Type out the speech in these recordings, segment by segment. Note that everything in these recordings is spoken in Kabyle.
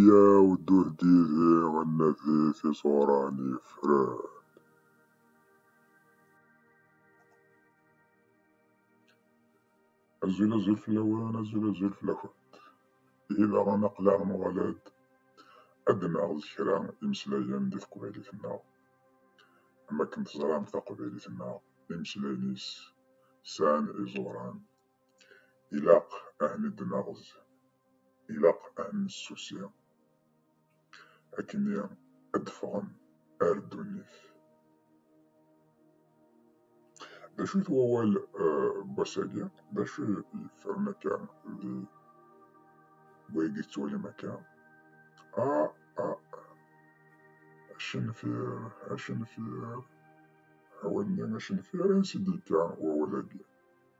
Yyaw ddut yid-i ad nadi tiẓura n yifran. Azul azul fell-awen, azul azul fell-akent. Ihi daɣen aql-aɣ nuɣal-d ad d-naɣet kra imeslayen di teqbaylit-nneɣ. Am wakken teẓram taqbaylit-nneɣ imeslayen-is sɛan iẓuran. Ilaq ad neddnerz, ilaq ad nessusi, akkenni ad d-ffɣen ar ddunit. D acu-t wawal n wass-agi? D acu i yeffren akka di wayagi tettwalim akka? Ah! Ah! Acenfir! Acenfir! Awal-nni acenfir ansi d-yekka wawal-agi?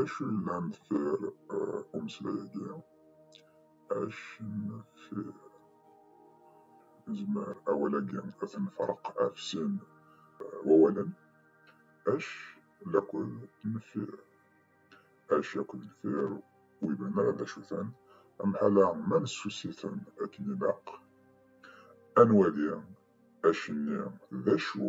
Acunnam ter umeslay-agi, acnfir. Nezmer awal-agi ad t-nefreq ɣef sin wawalen, ac lakul nfir. Ac akked nfir ur iban ara d acu-ten, amḥala ma nessussi-ten akken ilaq, ad nwali ac-nni d acu,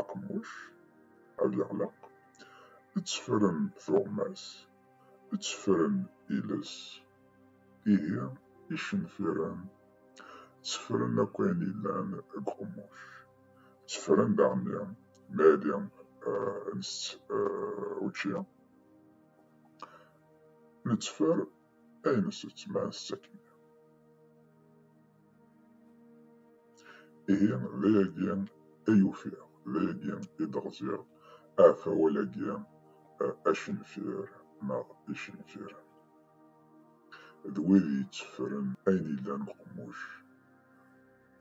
aqemmuc ad yeɣleq, ttefren tuɣmas, ttefren iles, ihi icenfiren ttefren akk ayen yellan deg uqemmuc, ttefren daɣenni mi ad nsett učči, netteffer ay nesett ma ass akken. Ihi d ayagi ay ufiɣ, d ayagi i d-ɣziɣ ahat awal-agi acenfir neɣ icenfiren. D wid yetteffren ayen yellan uqemmuc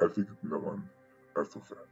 ar tikkelt nniḍen ar tufat.